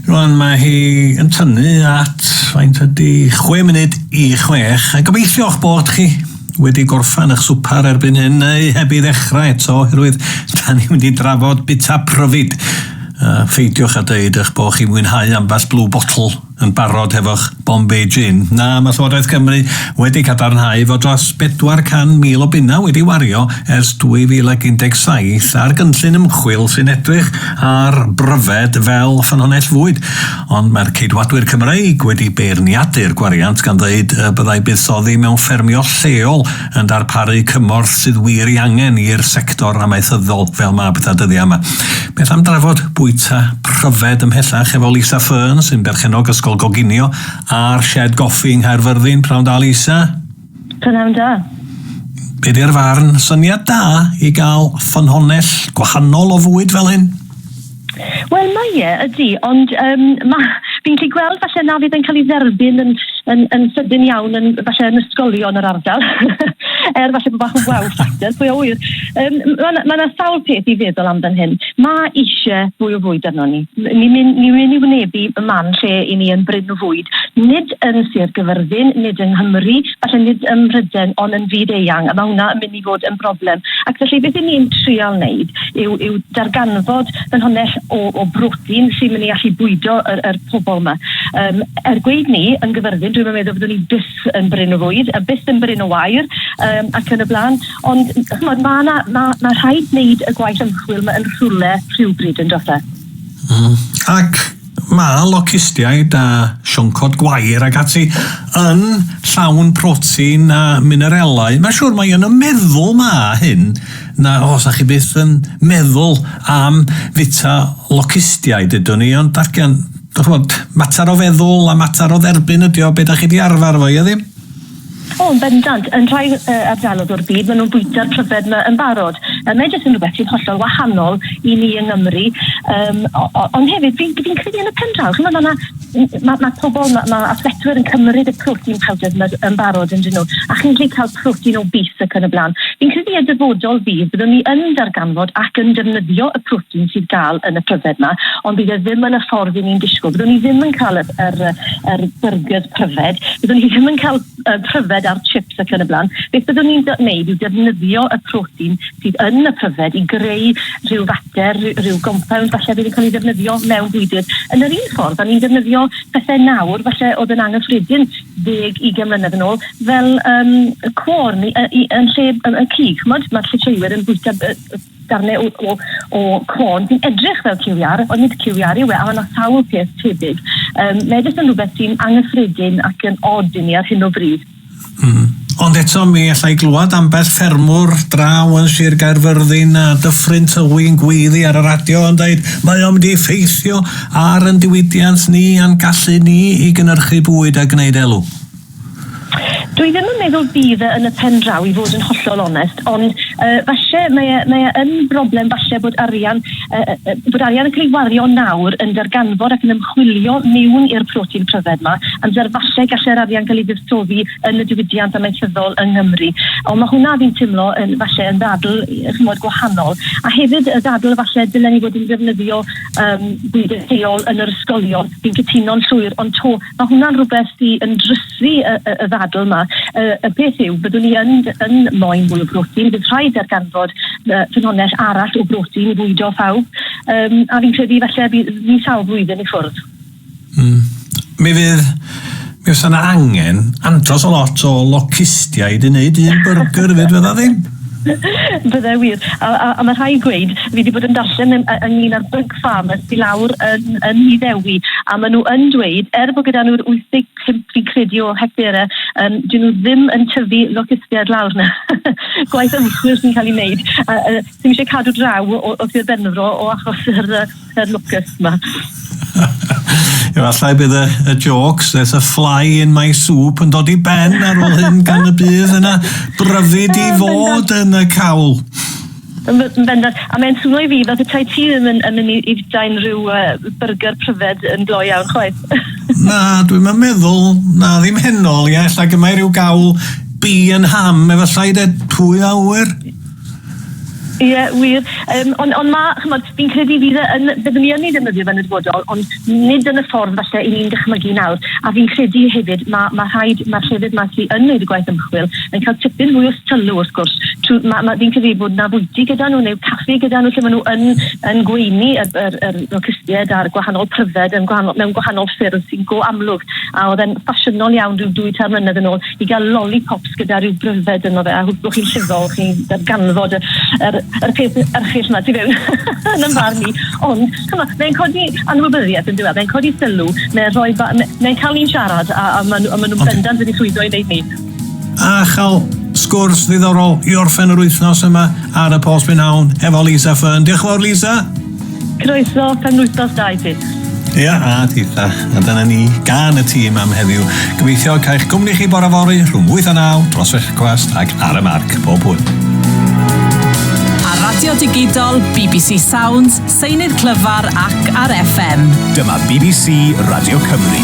Rwan mae hi yn tynnu at faint ydy 6 munud i 6 a gobeithio'ch bod chi wedi gorffan eich swper erbyn hyn neu heb i ddechrau eto oherwydd da ni'n mynd i drafod bita pryfid. Uh, ffeidiwch a dweud eich bod chi'n mwynhau ambell blue bottle yn barod hefo'ch Bombay Gin, na, mae Llywodraeth Cymru wedi cadarnhau fod dros 400,000 o bunnau wedi wario ers 2017 ar gynllun ymchwil sy'n edrych ar bryfed fel ffynhonnell fwyd, ond mae'r Ceidwadwyr Cymreig wedi beirniadu'r gwariant gan ddweud y byddai buddsoddi mewn ffermio lleol yn darparu cymorth sydd wir ei angen i'r sector amaethyddol fel mab da dyddiau yma. Beth am drafod bwyta pryfed ymhellach efo Lisa Fern sy'n berchenog Ysgol Goginio a'r Shed Goffi yng Nghaerfyrddin, prawn da Lisa? Prawn da. Be di'r farn, syniad da i gael ffynhonnell gwahanol o fwyd fel hyn? Wel mae e, ydy, ond yym, ma'... fi'n gallu gweld falle na fydd e'n cael ei dderbyn yn yn yn sydyn iawn yn falle yn ysgolion yr ardal. er falle bod bach yn wow factor, pwy a ŵyr. Yym, ma' 'na ma' 'na sawl peth i feddwl am fan hyn. Ma' isie fwy o fwyd arnon ni. M- ni'n myn' ni'n myn' i wynebu y man lle 'yn ni yn brin o fwyd, nid yn Sir Gyfyrddin, nid yng Nghymru, falle nid ym Mhryden, ond yn fyd eang, a ma' hwnna yn myn' i fod yn broblem. Ac felly beth 'yn ni'n trial wneud yw, yw darganfod ffynhonnell o, o brotein sy'n mynd i allu bwydo yr, yr pobl yma. Um, er gweud ni, yn gyfyrddin, dwi'n meddwl byddwn ni byth yn bryn o fwyd, a byth yn bryn o wair, um, ac yn y blaen. Ond, chymod, mae yna, mae, mae rhaid wneud y gwaith ymchwil mae yn rhywle rhywbryd yn dod e. Mm. Ac Mae locustiaid a sioncod gwair ac ati yn llawn protein a minerelau. Mae'n siŵr mai yn y meddwl mae hyn, na os â chi byth yn meddwl am fita locustiaid ydwn i, ond darllen, chimod, mater o feddwl a mater o dderbyn ydi o, be da chi di arfer efo i, ydi? O, yn bendant. Yn rhai yy ardalodd o'r byd, maen nhw'n bwyta'r pryfed yma yn barod. Yy, mae jyst yn rhywbeth sy'n hollol wahanol i ni yng Nghymru. Um, ond hefyd, fi'n fi credu yn y pen draw, chimod, mae yna ma, ma pobl, mae ma athletwyr yn cymryd y protein powders yma yn barod yn dyn nhw, a chi'n gallu cael protein o bus ac yn y blaen. Fi'n credu y dyfodol fydd, byddwn ni yn darganfod ac yn defnyddio y protein sydd gael yn y pryfed yma, ond bydd e ddim yn y ffordd i ni'n disgwyl. Byddwn ni ddim yn cael yr, yr, yr burgers pryfed, byddwn ni ddim yn cael uh, pryfed ar chips ac yn y blaen. Beth byddwn ni'n gwneud yw defnyddio y protein sydd yn y pryfed i greu rhyw fater, rhyw gompawnd falle bydd yn cael ei ddefnyddio mewn bwydydd. Yn yr un ffordd, da ni'n defnyddio pethau nawr, falle oedd yn anghyffredin ddeg i gemlynedd yn ôl, fel um, y cwr yn lle y cig. Mae'r llitreuwyr yn bwyta darnau o, o, o corn sy'n edrych fel ciwiar, ond nid ciwiar yw e, a mae yna sawl peth tebyg. Um, mae jyst yn rhywbeth sy'n anghyffredin ac yn od i ni ar hyn o bryd. Mm. Ond eto mi allai glywed ambell ffermwr draw yn Sir Gaerfyrddin a Dyffryn Tywi'n gweiddi ar y radio yn dweud mae o'n mynd i effeithio ar yn diwydiant ni a'n gallu ni i gynnyrchu bwyd a gwneud elw. Dwi ddim yn meddwl bydd e yn y pen draw i fod yn hollol onest, ond uh, falle mae e, mae e yn broblem falle bod arian, uh, uh, bod arian yn cael ei wario nawr yn darganfod ac yn ymchwilio mewn i'r protein pryfed yma, amser falle galle'r arian cael ei fuddsoddi yn y diwydiant amaethyddol yng Nghymru. Ond mae hwnna fi'n teimlo yn, falle yn ddadl chymod gwahanol. A hefyd y ddadl falle dylen ni fod yn defnyddio um, bwyd lleol yn yr ysgolion. Fi'n cytuno'n llwyr, ond to Mae hwnna'n rhywbeth sydd yn drysru y, y, y ddadl yma. Y, y peth yw, byddwn ni yn, yn moyn mwy o brotein, bydd rhaid darganfod uh, ffynhonnell arall o brotein i fwydo phawb, um, a fi'n credu falle bydd ni sawl flwyddyn i ffwrdd. Mm. Mi fydd mi fysa yna angen andros o lot o locustiaid i wneud un byrgyr fyd fydda ddim? Bydde wir. A, a, a mae rhai gweud, fi wedi bod yn darllen ynglyn â'r bug fam ers i lawr yn, yn Nhŷ Ddewi, a maen nhw yn dweud, er bod gyda nhw'r 85 fi'n credu o hectare, um, dyn nhw ddim yn tyfu locustiaid lawr na. Gwaith ymchwil sy'n cael ei wneud. A, uh, ddim eisiau cadw draw o, o Sir Benfro o achos yr, yr locust yma. Efallai bydd y, y jokes, there's a fly in my soup, yn dod i ben ar ôl hyn gan y bydd yna bryfyd i fod yn y cawl. Yn bendant. A mae'n swno i fi fel petai ti ddim yn, yn mynd i, i fita unrhyw uh, burger pryfed yn glo iawn chwaith. na, dwi'n yn meddwl, na ddim henol, ia, ella gyma'i rhyw gawl bi yn ham, efallai de, pwy a ŵyr? Ie, yeah, wir. Um, ond on mae, chymod, fi'n credu fydd e yn, byddwn ni yn ei ddefnyddio fe'n y dyfodol, ond nid yn y ffordd falle i ni'n dychmygu nawr. A fi'n credu hefyd, mae, mae rhaid, mae'r llefydd mae sy'n yn gwneud y gwaith ymchwil yn cael tipyn mwy o sylw wrth gwrs. Trw, ma, ma, fi'n credu bod na fwyty gyda nhw neu caffi gyda nhw lle maen nhw yn, yn gweini y, yr, yr locustiaid a'r gwahanol pryfed yn gwahanol, mewn gwahanol ffyrdd sy'n go amlwg. A oedd e'n ffasiynol iawn rhyw dwy tair mlynedd yn ôl i gael lollipops gyda rhyw bryfed yno fe a hwb chi'n llifol, chi'n darganfod yr, yr, yr peth erchill yma ti fewn yn ymfarn ni. Ond, chyma, mae'n codi anwybyddiaeth yn diwedd, mae'n codi sylw, mae'n rhoi, mae'n cael ni'n siarad a, a maen nhw'n bendant wedi llwyddo i wneud ni. A chael sgwrs ddiddorol i orffen yr wythnos yma ar y Post Prynhawn efo Lisa Fern. Diolch yn fawr Lisa. Croeso, pan wythnos da i ti. Ia, a ti ta. A dyna ni gan y tîm am heddiw. Gobeithio cael cwmni chi bore fori rhwng 8 a 9 dros fechgwast ac ar y marc pob hwyl. Ar Radio Digidol, BBC Sounds, Seinydd clyfar ac ar FM. Dyma bbc Radio Cymru.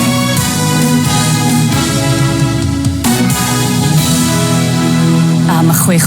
Am chwech